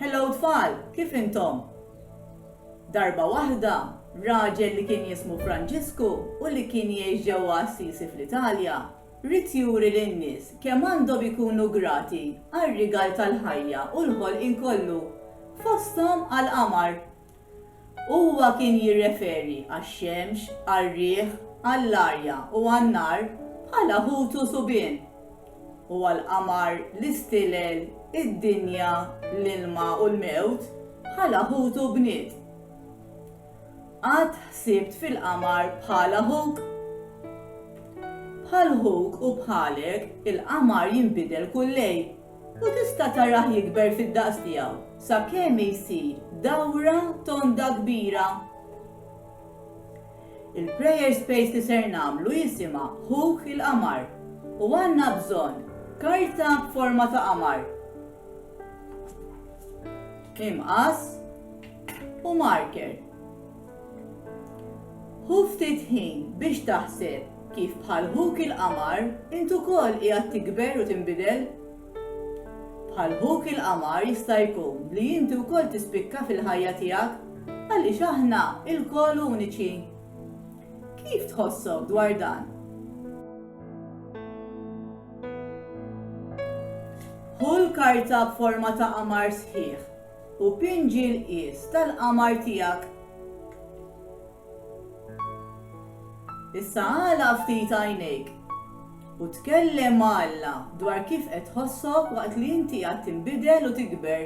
Hello tfal, kif intom? Darba waħda, raġel li kien jismu Franġisku u li kien jgħix ġewwa Assisi fl-Italja, ried juri lin-nies kemm għandhom ikunu grati għar-rigal tal-ħajja u l-ħolqien kollu, fosthom għall-qamar Huwa kien jirreferi għax-xemx, għar-riħ, għall-arja u għan-nar bħala ħut u subien, u għall-qamar, l-istilel, id-dinja, l-ilma u l-mewt bħala ħut u bniet. Qatt ħsibt fil-qamar bħala ħuk? Bħal ħuk u bħalek, il-qamar jinbidel kull lejl. U tista' tarah jikber fid-daqs tiegħu sakemm jsir dawra tonda kbira. Il-prayer space li ser nagħmlu jisimha Ħuk il-Qamar u għandna bżonn karta b'forma ta' qamar. Imqas u marker. Ħu ftit ħin biex taħseb kif bħal ħuk il-qamar int ukoll qiegħed tikber u tinbidel. Bħal ħuk il-qamar jista' jkun li inti wkoll tispikka fil-ħajja tiegħek għaliex aħna lkoll uniċi. Kif tħossok dwar dan? Hu l-karta b'forma ta' qamar sħiħ u pinġi l-qies tal-qamar tiegħek. Issa għala ftit għajnejk u tkellem ma' Alla dwar kif qed tħossok waqt li inti għad tinbidel u tikber.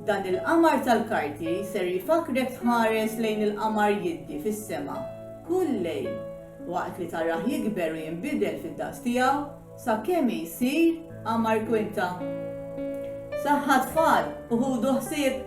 Dan il-qamar tal-karti ser jifakrek tħares lejn il-qamar jiddi fis-sema kull lejl waqt li tarah jikber u jinbidel fid-daqs tiegħu Sakemm jsir għamar kwinta. Saħħa tfal u ħudu ħsieb.